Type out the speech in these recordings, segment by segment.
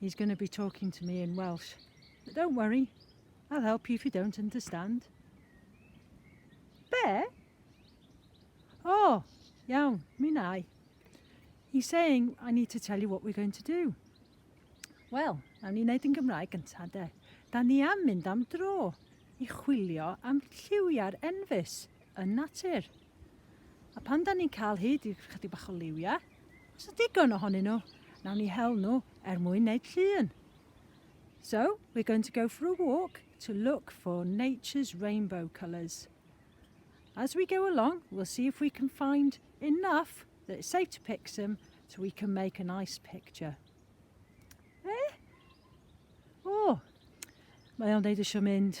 He's going to be talking to me in Welsh. But don't worry, I'll help you if you don't understand. Be? Oh, iawn, mi nai. He's saying, I need to tell you what we're going to do. Wel, nawn ni wneud yn Gymraeg gyntaf de. Da ni am mynd am dro i chwilio am lliwiau'r enfys yn natur. A pan da ni'n cael hyd i chydig bach o liwia, os yw digon ohonyn nhw, nawn ni hel nhw er mwyn wneud llun. So, we're going to go for a walk to look for nature's rainbow colours. As we go along, we'll see if we can find enough that it's safe to pick some so we can make a nice picture. Eh? O, oh, mae o'n deud eisiau mynd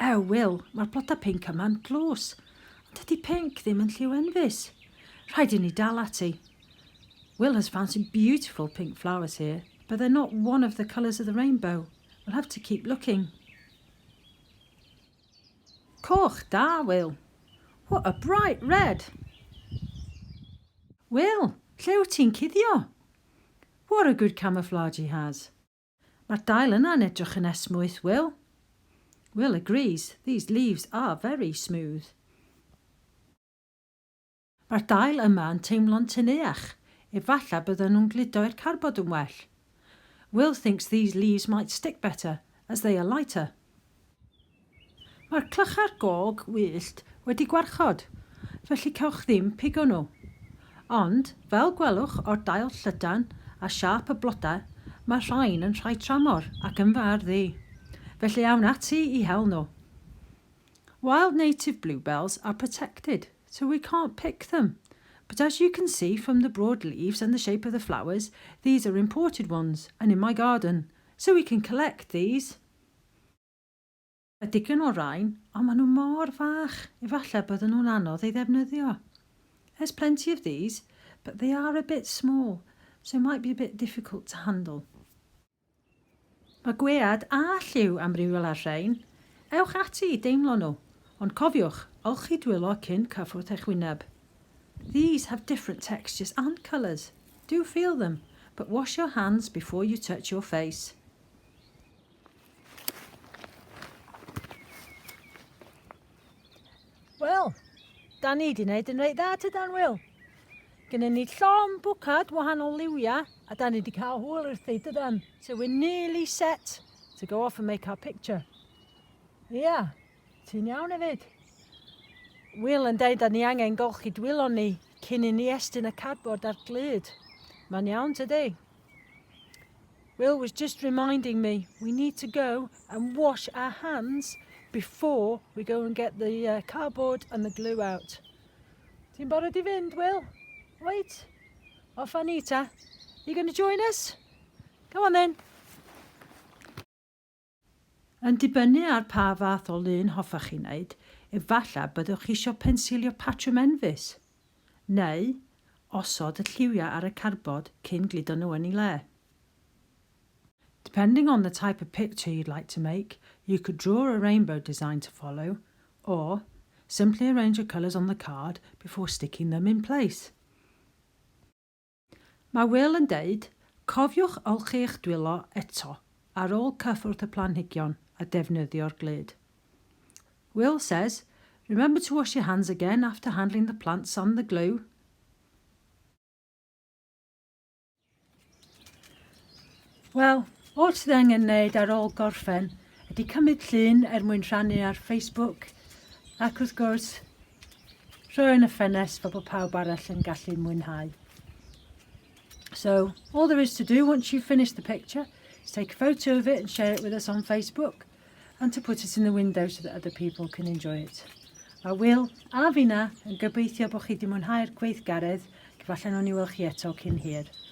Ew Wil, mae'r blodau pinc yma'n dlws. Ond dydy pinc ddim yn lliw enfys. Rhaid i ni dal ati. Wil has found some beautiful pink flowers here, but they're not one of the colours of the rainbow. We'll have to keep looking. Coch, da Wil. What a bright red! Wil, lle wyt ti'n cuddio? What a good camouflage he has. Mae'r dail yna yn edrych yn esmwyth, Will. Will agrees, These leaves are very smooth. Mae'r dail yma yn teimlo'n teneuach, efallai bydden nhw'n gludo i'r carbod yn well. Will thinks these leaves might stick better, as they are lighter. Mae'r clychau'r gog wyllt wedi gwarchod, felly cewch ddim pigo nhw. Ond, fel gwelwch o'r dail llydan a siâp y blodau, mae'r rhain yn rhai tramor ac yn fy ardd i, felly awn ati i hel nhw. Wild native bluebells are protected, so we can't pick them, but as you can see from the broad leaves and the shape of the flowers, these are imported ones and in my garden, so we can collect these. Y digen o rain, ond maen nhw mor fach, efallai bydden nhw'n anodd ei ddefnyddio. There's plenty of these, but they are a bit small, so it might be a bit difficult to handle. Mae gwead a lliw amrywiol ar rhein. Ewch ati i deimlo nhw, ond cofiwch, olchi dwylo cyn cyffwrdd eich wyneb. These have different textures and colours. Do feel them, but wash your hands before you touch your face. Wel, da ni wedi gwneud yn reit dda tydan, Wil? Gynnu ni llon bwcad wahanol liwiau a da ni wedi cael hwyl wrth ei dydan. So we're nearly set to go off and make our picture. Yeah. Ti'n iawn efyd? Wil yn deud da ni angen golchi dwylon ni cyn i ni estyn y cardboard a'r glud. Mae'n iawn tydi? Will was just reminding me we need to go and wash our hands before we go and get the uh, cardboard and the glue out. Ti'n barod i fynd, Will? Wait. Off a ni ta. You going to join us? Come on then. Yn dibynnu ar pa fath o lun hoffech chi wneud, efallai byddwch eisiau pensilio patrwm enfys, neu osod y lliwiau ar y cardbord cyn gludo nhw yn eu lle. Depending on the type of picture you'd like to make, you could draw a rainbow design to follow, or simply arrange the colours on the card before sticking them in place. Mae Wil yn deud, Cofiwch olchi eich dwylo eto ar ôl cyffwrdd y planhigion a defnyddio'r glud. Wil says, Remember to wash your hands again after handling the plants and the glue. Wel, oll sydd angen wneud ar ôl gorffen ydy cymryd llun er mwyn rhannu ar Facebook ac wrth gwrs rhoi yn y ffenest fel bod pawb arall yn gallu mwynhau. So, all there is to do once you've finished the picture is take a photo of it and share it with us on Facebook and to put it in the window so that other people can enjoy it. A Will a fi na yn gobeithio bod chi wedi mwynhau'r gweithgaredd, gyfalle nhw'n i weld chi eto cyn hir.